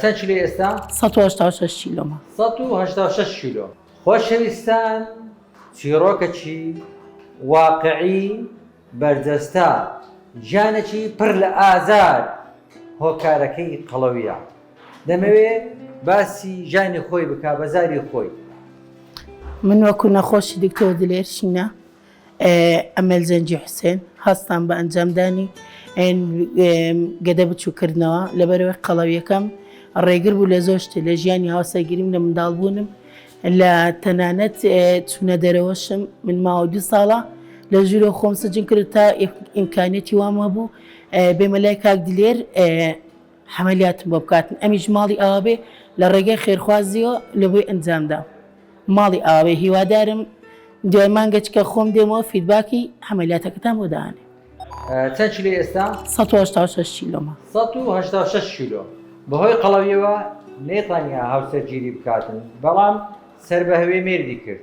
چەند کیلۆی ئێستا؟ سەد و هەشتا و شەش کیلۆ. سەد و هەشتا و شەش کیلۆ. خۆشەویستان چیڕۆکەکی واقعی بەرجەستە گیانێکی پڕ لە ئازار هۆکارەکەی قەڵەویە دەمەوێ باسی گیانی خۆی بکا بە زاری خۆی. من وەکو نەخۆشی دکتۆر دلێر شینە. ئەمەل جەنگی حوسێن، هەستان بە ئەنجامدانی گەدە بچوو کردنەوە لەبەرەوەی قەڵەویەکەم ڕێگر بوو لە زۆر شتێ لە ژیانی هاوسەرگیریم لە منداڵبوونم لە تەنانەت چوونە دەرەوەشم من ماوە دو ساڵە لە ژوورە خۆم سجن کرد تا ئیمکانێتی وامە بوو بێمە لای کاک دلێر حەمەلیاتم بۆ بکاتن ئەمیش ماڵی ئاوابێ لە ڕێگای خێرخوازیەوە لەبۆی ئەنجامدا ماڵی ئاوێ هیوادارم دوای مانگەچکە خۆم دێمەوە فیدباکی حەمەلیاتەکەتان بۆ دانێ چەند کیلۆ ئێستا؟ 186 کیلۆمە 186 کیلۆ بەهۆی قەڵەویەوە نەیتوانیا هاوسەرگیری بکاتن بەڵام سەر بە هەوێ مێردی کرد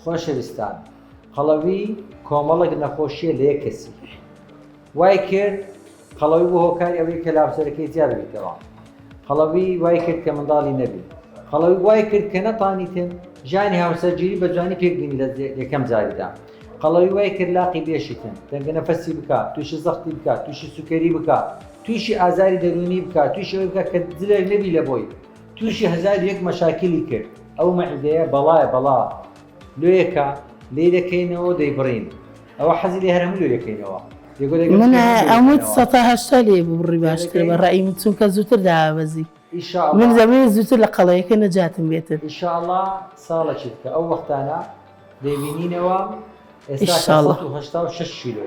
خۆشەویستان قەڵەوی کۆمەڵک نەخۆشیە لە یەک کەسی وای کرد قەڵەوی بۆ هۆکاری ئەوەی کە لاوسەرەکەی جیا ببیتەوە قەڵەوی وای کرد کە منداڵی نەبی قەڵەوی وای کرد کە نەتانیتن ژانی هاوسەرگیری بە جوانی پێکبینی لە یەکەم جاریدا قەڵەوی وای کرد لاقی بێشیتن دەنگە نەفەسی بکات تووشی زەختی بکات تووشی سوکەری بکات تووشی ئازاری دەرونی بکات تووشەوەی بکە کە دلێک نەبی لە بۆی توشی هەزار و یەک مەشاکیلی کرد ئەو مەعیدەیە بەڵایە بەڵا لۆیەکە لێی دەکەینەوەو دەیبڕین ئەوە حەزی لێ هەر هەموو لۆی دەکەینەوە من ئەموت سەد تا هەشتا لێ ببڕی باشترە بە ڕای من چونکە زووتر دابەزی من دەمەوێت زووتر لە قەڵەیەکە نەجاتم بێتن ان شاء اللە ساڵێکی دیکە ئەو وەختانە دەیبینینەوە ئێستا سەد و هەشتا و شەش کیلۆ.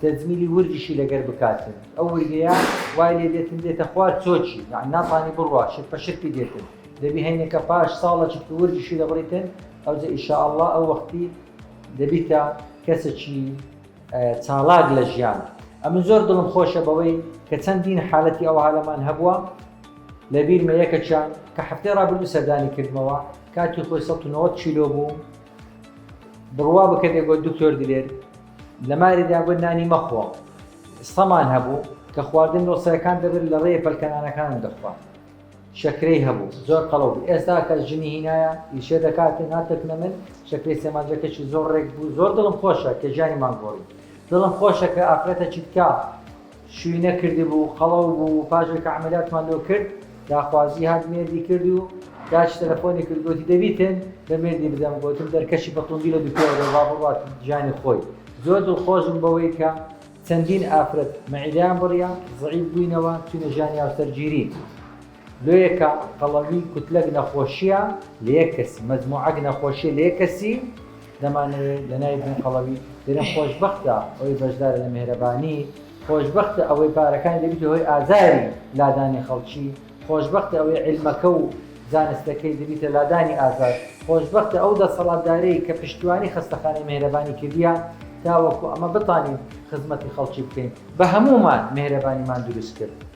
تەجمیلی وردیشی لەگەر بکاتن ئەو وردەیە وای لێ دێتن دێتە خوار چۆچی یانی ناتانی بڕوا شرپە شرپی دێتن دەبی هەینەکە پاش ساڵە چرپی وردیشی دەبڕیتن ئەوجە ئیشا اللە ئەو وەختی دەبیتە کەسەکی چاڵاک لە ژیان ئەمن زۆر دڵم خۆشە بەوەی کە چەندین حالەتی ئەوها لەمان هەبووە لە بیرمە یەکەکیان کە هەفتەی ڕابردوو سەردانی کردمەوە کاتی خۆی 1970 کیلۆ بوو بڕوا بکە دەگۆ دکتۆر دلێر لە ماری داگوت نانی مەخۆ. سەمان هەبوو، کە خواردن نۆسەرەکان دەبرد لە ڕێێ پەلکەنانەکانم دەخوارد. شەکرەی هەبوو، زۆر قەڵەو بوو. ئێستا کە ژنی هینایە، ئیشێ دەکات و ناترکنە من، شەکرەی سێمانجەکەشی زۆر ڕێک بوو. زۆر دڵم خۆشە، کە ژیانی مانگۆڕی. دڵم خۆشە، کە ئافرەتەکی تکا. شوی نەکردبوو قەڵەو بوو پاشێ کە عەمەلیاتمان لۆ کرد داخوازی هات مێردی کرد و داچ تەلەفۆنی کرد گۆتی دەبیتن بە مێردی بدەم گۆتم دەرکەشی بە توندی لە دوکەوە دەر با بڕوات ژانی خۆی زۆر دڵخۆش بووم بەوەی کە چەندین ئافرەت مەعیدەیان بڕیە زەعیف بووینەوە چوینە ژانی هاوسەرگیری. لۆیەکە قەڵەوی کوتلەک نەخۆشیە لەیەک کەسی مەجموعەک نەخۆشیە لەیەک کەسی دەمانەوێ لەناوی بنێ قەڵەوی دەرێن خۆشبەختە ئەوەی بەشدارە لە مێهرەبانی خۆشبەختە ئەوەی پارەکانی دەبیتە هۆی ئازاری لادانی خەڵکی خۆشبەختە ئەوەی عیلمەکە و زانستەکەی دەبیتە لادانی ئازار خۆشبەختە ئەو دەسەڵاتدارەی کە پشتیوانی خەستەخانەی مێهرەبانی کردیە تاوەکو ئەمە بتانین خزمەتی خەڵکی بکەین بەهەموومان مێهرەبانیمان دروست کرد.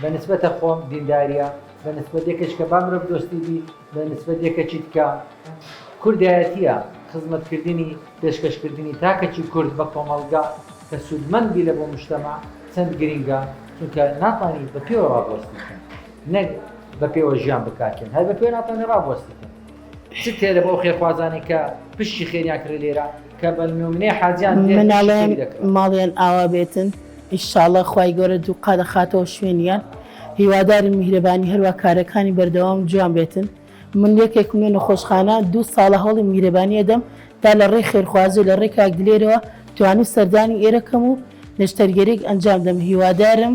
بە نسبەتە خۆم دینداریە بە نسبەت یەکەچ کە با مرۆڤ دۆستی بی بە نسبەت یەکەچی تکە کوردایەتیە خزمەت کردنی پێشکەش کردنی تاکەچی کورد بە کۆمەڵگا کە سودمەند بی لە بۆ مشتەمع چەند گرینگە چونکە ناتوانی بە پێوە ڕاڤەستی کەن نەک بە پێوە ژیان بکاکێن هەر بە پێوە ناتوانی ڕاڤەستی کەن. چ تێرە بۆ ئەو خێرخوازانەی کە پشتی خێریان کرێ لێرە کە بە نمونێ حاجیان مناڵێن ماڵیان ئاوا بێتن ئیشاڵە خی گەورە دوو قادە خاتەوە شوێنیان هیواداری میهرەبانی هەروە کارەکانی بەردەوام جوان بێتن من یەکێک منێ نەخۆشخانە دوو ساڵە هەڵی میهرەبانیە دەم تا لە ڕێ خێرخوازی لە ڕێکاک دلێرەوە توانی سەردانی ئێرەکەم و نەشتەرگەرێک ئەنجام دەم هیوادارم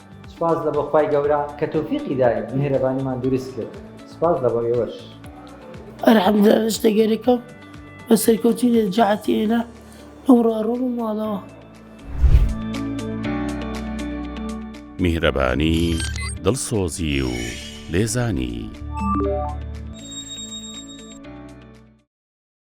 سوپاس لە بۆ خوای گەورە کە تۆفیقی داین میهرەبانیمان دروست کرد سوپاس لە بۆ ئێوەش ئەرحەمدە ئێستا گەرەکەم بە سەرکەوتی لە جەعەتی ئێنە ئەوڕۆ ئەڕۆم و ماڵەوە میهرەبانی دڵسۆزی و لێزانی.